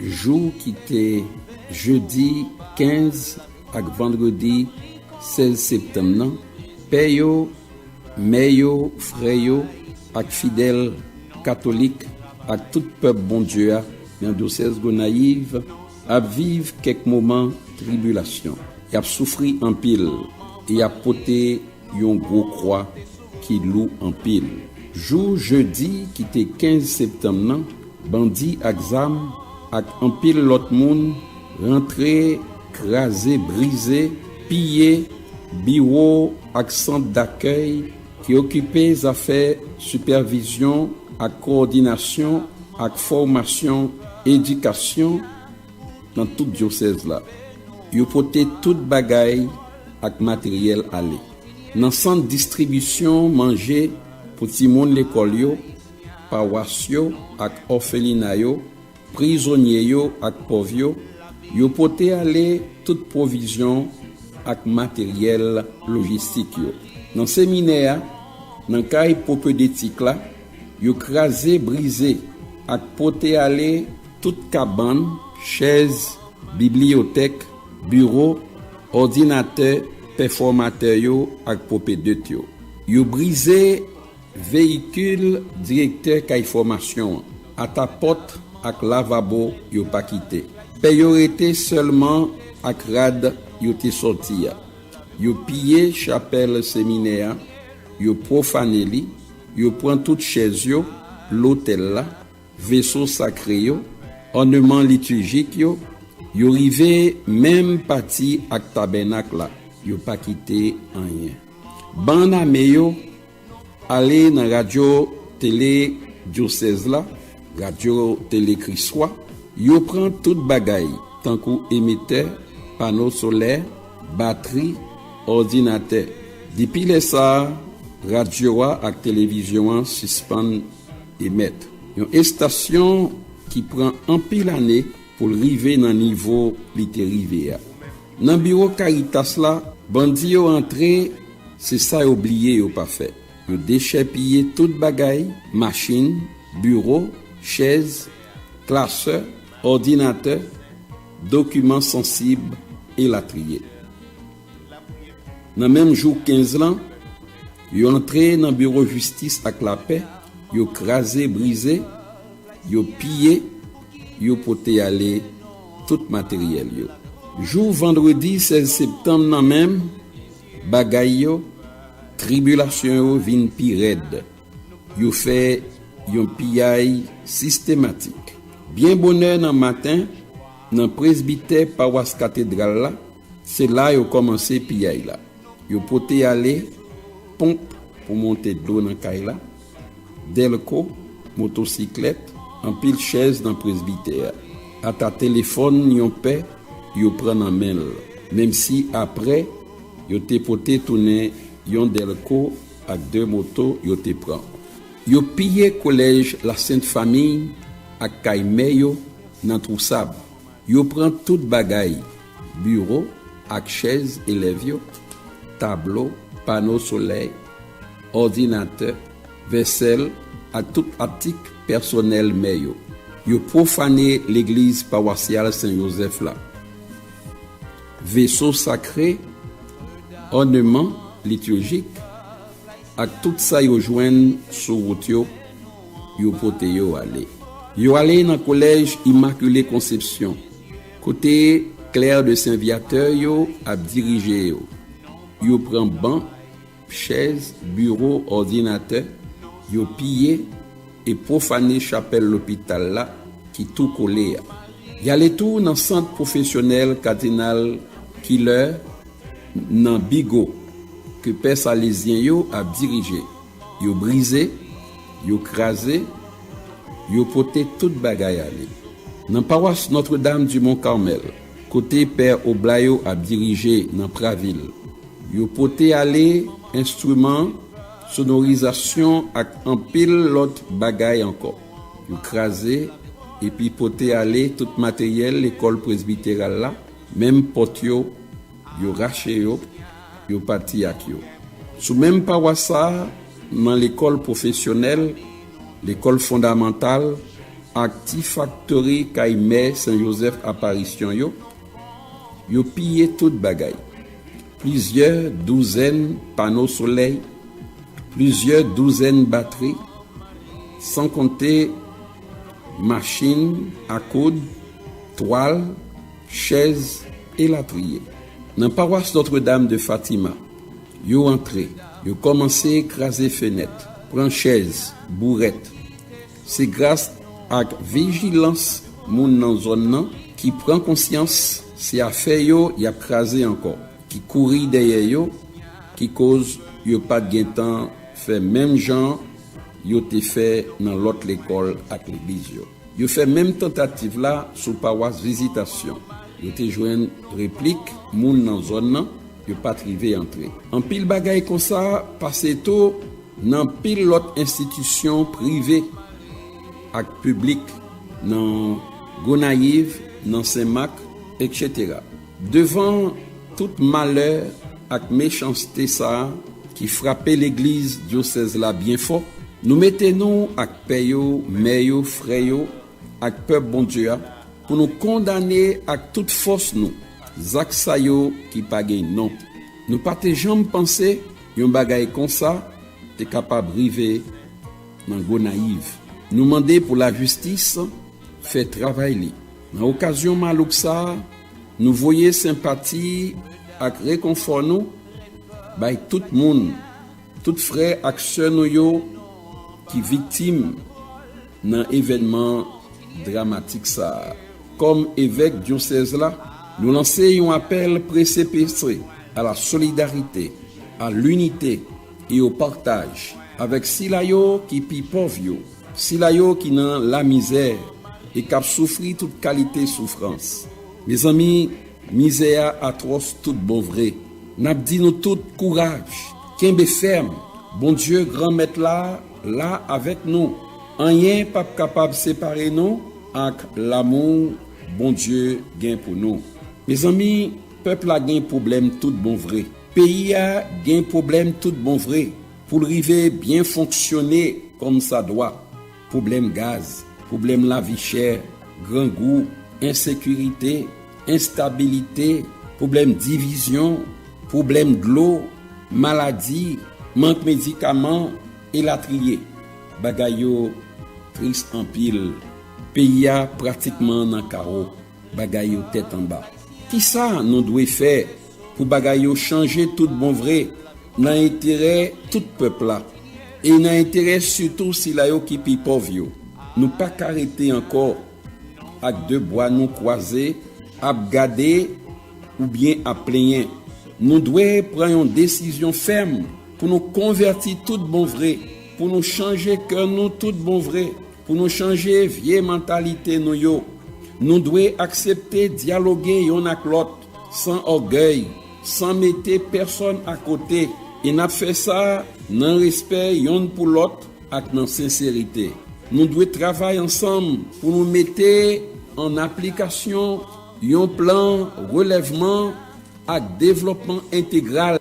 Jou ki te jedi 15 ak vandredi 16 septanm nan, pè yo, mè yo, frè yo ak fidèl katolik ak tout pèp Bondye a nan dyosèz Gonayiv ap viv kèk moman tribilasyon. Y ap soufri anpil e y ap pote Yon gwo kwa ki lou anpil. Jou jedi ki te 15 septanm nan, bandi ak zam ak anpil lòt moun rantre kraze brize, piye biwo ak sant dakèy ki okipe zafè sipèvizyon ak kowòdinasyon ak fòmasyon edikasyon, nan tout dyosèz la. Yo pote tout bagay ak materyèl ale nan sant distribisyon manje pou timoun lekòl yo, pawas yo ak òfelina yo, prizonye yo ak pòv yo, yo pote ale tout pwovizyon ak materyèl lojistik yo nan seminè a, nan kay pwopedetik la, yo kraze, brize ak pote ale. Tout kabann, chèz, bibliyotèk, biwo, òdinatè, pèfòmatè yo ak pwopedet yo. Yo brize veyikil direktè kay fòmasyon an. Ata pòt ak lavabo yo pa kite. Pè yo rete sèlman ak rad yo te sòti a. Yo piye chapèl seminè a, yo pwofane li, yo pran tout chèz yo, lotèl la, veso sakre yo, òneman litijik yo, yo rive menm pati ak tabènak la, yo pa kite anyen. Bann ame yo ale nan radyo tele dyosèz la, radyo tele Kriswa, yo pran tout bagay tankou emitè, pano solè, batri, òdinatè. Depi lè sa a, radyo a ak televizyon an sispann Emet. Yon estasyon ki pran anpil ane pou l rive nan nivo li te rive a. Nan biwo Karitas la, bandi yo antre, se sa yo bliye yo pa fè. Yo dechèpiye tout bagay, machin, biwo, chèz, klasè, òdinatè, dokiman sansib, elatriye. Nan menm jou 15 lan, yo antre nan biwo jistis ak lapè, yo kraze brize, yo piye, yo pote ale tout materyèl yo. Jou vandredi 16 septanm nan menm bagay yo, tribilasyon yo vin pi rèd, yo fè yon piyay sistematik. Byen bonè nan maten, nan presbitè pawas katedral la, Se la yo kòmanse piyay la. Yo pote ale ponp pou monte dlo nan kay la, dèlko, motosiklèt, anpil chèz nan presbitè a. Ata telefòn yon pè yo pran nan men l, menmsi apre yo te pote tounen yon dèlko ak de moto yo te pran. Yo piye kolèj Lasent Famiy ak kay mè yo nan Twousab. Yo pran tout bagay Biwo ak chèz elèv yo, tablo, pano solèy, òdinatè, vèsèl ak tout atik pèsonèl mè yo. Yo pwofane legliz pawasyal Sen Jozèf la, veso sakre, òneman litirjik ak tout sa yo jwenn sou wout yo, yo pote yo ale. Yo ale nan kolèj Imakile Konsepsyon. Kote clerc de saint viateur yo ap dirije yo? Yo pran ban, chèz, biro, òdinatè, yo piye e pwofane chapèl lopital la ki tou kole a. Y ale tou nan sant pwofesyonèl kadinal Killer nan Bigo ke pè salezyen yo ap dirije. yo brize, yo kraze, yo pote tout bagay ale. Nan pawas Notre Dame du Mont Carmel, kote pè Oblat yo ap dirije nan Pravil, yo pote ale enstriman sonorizasyon ak anpil lòt bagay ankò. Yo kraze epi pote ale tout materyèl lekòl presbiteral la, menm pòt yo, yo rache yo, Yo pati ak yo. Sou menm pawas sa a, nan lekòl pwofesyonèl, lekòl fondamantal ak ti faktori kay Mè Sen Jozèf Aparisyon yo, yo piye tout bagay, plizyè douzèn pano solèy, plizyè douzèn batri, san konte machin a koud, twal, chèz, elatriye. Nan pawas Notre Dame de Fatima, yo antre, yo kòmanse kraze fenèt, pran chèz, bourèt. Se gras ak vijilans moun nan zòn nan ki pran konsyans se afè yo y ap kraze ankò, ki kouri dèyè yo ki koz yo pa t gen tan fè menm jan yo te fè nan lòt lekòl ak legliz yo. Yo fè menm tantativ la sou pawas Vizitasyon. Yo te jwenn replik moun nan zòn nan, yo pa t rive antre. Anpil bagay konsa pase tou nan anpil lòt enstitisyon prive ak piblik nan Gonayiv, nan Senmak, eksetera. Devan tout malè ak mechanste sa ki frape legliz dyosèz la byen fò, nou mete nou ak pè yo, mè yo, frè yo ak pèp Bondye a pou nou kondane ak tout fòs nou zak sa yo ki pa gen non. Nou pa te janm panse yon bagay konsa te kapab rive nan Gonayiv. Nou mande pou lajistis fè travay li. Nan okazyon malouk sa, nou voye senpati ak rekonfò nou bay tout moun, tout frè ak sè nou yo ki viktim nan evènman dramatik sa. Kòm Evèk Dyosèz la, nou lanse yon apèl prese prese a la solidarite, a linite e o partaj avèk sila yo ki pi pòv yo. Sila yo ki nan lamizè e k ap soufri tout kalite soufrans. Mezanmi, mizè a atwòs tout bon vre. N ap di nou tout, kouraj! Kenbe fèm! Bondye, Granmèt la, la avèk nou. Anyen p ap kapab separe nou ak lamou Bondye gen pou nou. Mezanmi, pèp la gen pwoblèm tout bon vre. Peyi a gen pwoblèm tout bon vre. Pou l rive byen fonksyone kòmsadwa, pwoblèm gaz, pwoblèm lavichè, grangou, ensekirite, enstabilite, pwoblèm divizyon, pwoblèm dlo, maladi, mank medikaman, elatriye. Bagay yo tris anpil. Peyi a pratikman nan kawo. Bagay yo tèt anba. Kisa nou dwe fè pou bagay yo chanje tout bon vre nan enterè tout pèp la e nan enterè sitou sila yo ki pi pòv yo? Nou pa ka rete ankò ak de bwa nou kwaze ap gade oubyen ap plenyen. Nou dwe pran yon desizyon fèm pou nou konvèti tout bon vre, pou nou chanje kè nou tout bon vre. Pou nou chanje vye mantalite nou yo, nou dwe aksepte dyaloge yonn ak lòt, san ògèy, san mete pèsòn akote, e n ap fè sa nan respè yonn pou lòt ak nan senserite. Nou dwe travay ansanm pou nou mete an aplikasyon yon plan relèvman ak devlòpman entegral.